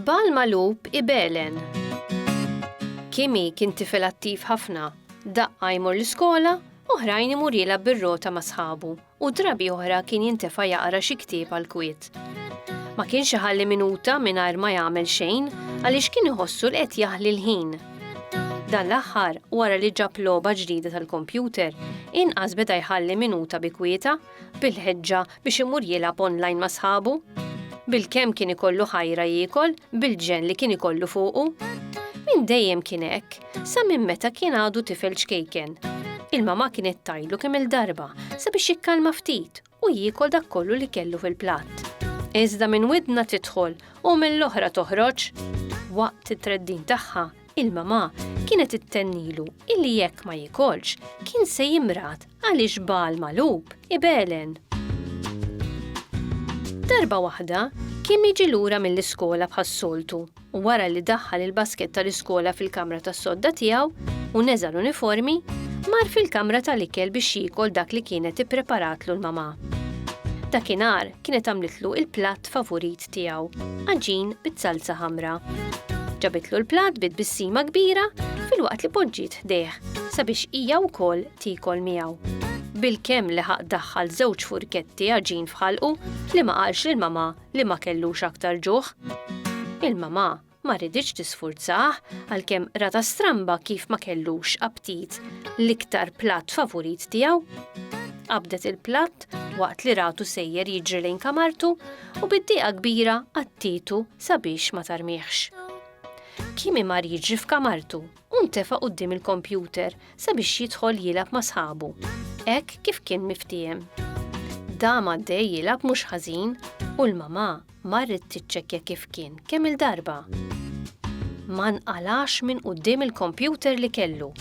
Bal malub ibelen. Kimi kien tifel attiv ħafna, daqqa jmur l-iskola, oħrajn imur jilgħab bir-rota ma' sħabu. u drabi oħra kien jintefa' jaqra xi ktieb għall-kwiet. Ma kienx iħalli minuta mingħajr ma jagħmel xejn għaliex kien iħossu li qed jaħli l-ħin. Dan l-aħħar, wara li ġab logħba ġdida tal-kompjuter, inqas beda jħalli minuta bi kwieta bil-ħeġġa biex imur jilgħab online ma' sħabu. Bil-kemm kien ikollu ħajra jiekol bil-ġenn li kien ikollu fuqu. Min dejjem kien hekk, sa minn meta kien għadu tifel ċkejken. Il-mama kienet tajlu kemm il-darba sabiex jikkalma ftit u jiekol dak kollu li kellu fil-platt. Iżda minn widna tidħol u mill-oħra toħroġ. Waqt it-treddin tagħha, il-mama kienet ittennilu illi jekk ma jikolx kien se jimrad Għaliex Bagħal magħlub ibegħlen? Darba waħda, Kim jiġi lura mill-iskola bħas-soltu u wara li daħħal il-baskett tal-iskola fil-kamra tas-sodda tiegħu u neża' l-uniformi, mar fil-kamra tal-ikel biex jiekol dak li kienet ippreparatlu l-mamà. Dakinhar kienet għamlitlu il-platt favurit tiegħu, għaġin bit-salza ħamra. Ġabitlu l-platt bi tbissima kbira filwaqt li poġġiet ħdejh sabiex hija wkoll tiekol miegħu. Bilkemm li ħaq daħħal żewġ furketti għaġin f'ħalqu li ma qalx lil mamà li ma kellux aktar ġuħ. Il-mamà ma riditx tisfurzah għalkemm rata stramba kif ma kellux aptit l-iktar platt favurit tiegħu. Qabdet il-platt waqt li ratu sejjer jiġri lejn kamartu u bid-dieqa kbira għattitu sabiex ma tarmiħx. Kimi mar jiġri f'kamartu u ntefa' quddiem il-kompjuter sabiex jidħol jilgħab ma' sħabu, hekk kif kien miftiehem. Dam għaddej jilgħab mhux ħażin u l-mamà marret tiċċekkja kif kien kemm-il darba. Ma nqalgħax minn quddiem il-kompjuter li kellu.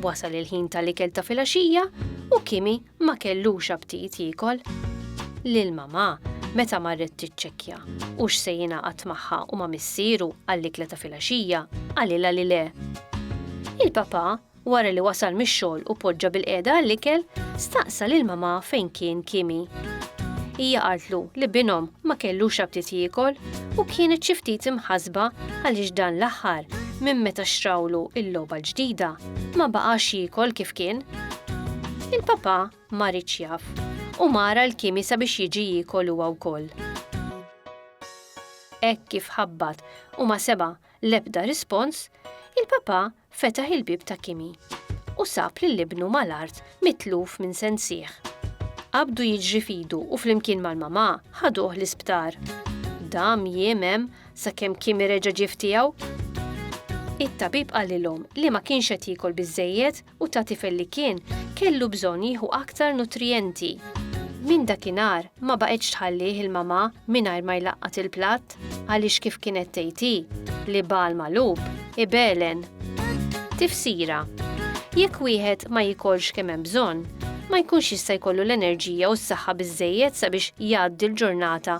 Wasal il-ħin tal-ikel ta' filgħaxija u Kimi Ma kellux aptit jiekol. Lil mamà, meta marret tiċċekkja hux se jingħaqad magħha u ma' missieru għall-ikla ta' filgħaxija, qalilha li le. Il-papà, wara li wasal mix-xogħol u poġġa bilqiegħda għall-ikel, staqsa lil mamà fejn kien Kimi. Hija qaltlu li binhom ma kellux aptit jiekol u kienet xi ftit imħassba għaliex dan l-aħħar, minn meta xtrawlu l-logħba l-ġdida, Ma baqax jiekol kif kien. Il-papà ma riedx jaf u mar għal Kimi sabiex jiġi jiekol huwa wkoll. Hekk kif ħabbat u ma seba' l-ebda rispons, il-papà fetaħ il-bieb ta' Kimi u sab lil ibnu mal-art mitluf minn sensih. Qabdu jiġri f'idu u flimkien mal-mamà ħaduh l-isptar. Dam jiem hemm sakemm Kimi reġa' ġie f'tiegħu. It-tabib qalilhom li ma kienx qed jiekol biżżejjed u ta' tifel li kien, kellu bżonn jieħu aktar nutrijenti. Minn dakinhar ma baqgħetx tħallih il-mamà mingħajr ma jlaqqat il-platt għaliex kif kienet tgħid hi, l-ibal magħlub, ibegħlen. Tifsira, Jekk wieħed ma jiekolx kemm hemm bżonn, ma jkunx jista' jkollu l-enerġija u s-saħħa biżżejjed sabiex jgħaddi l-ġurnata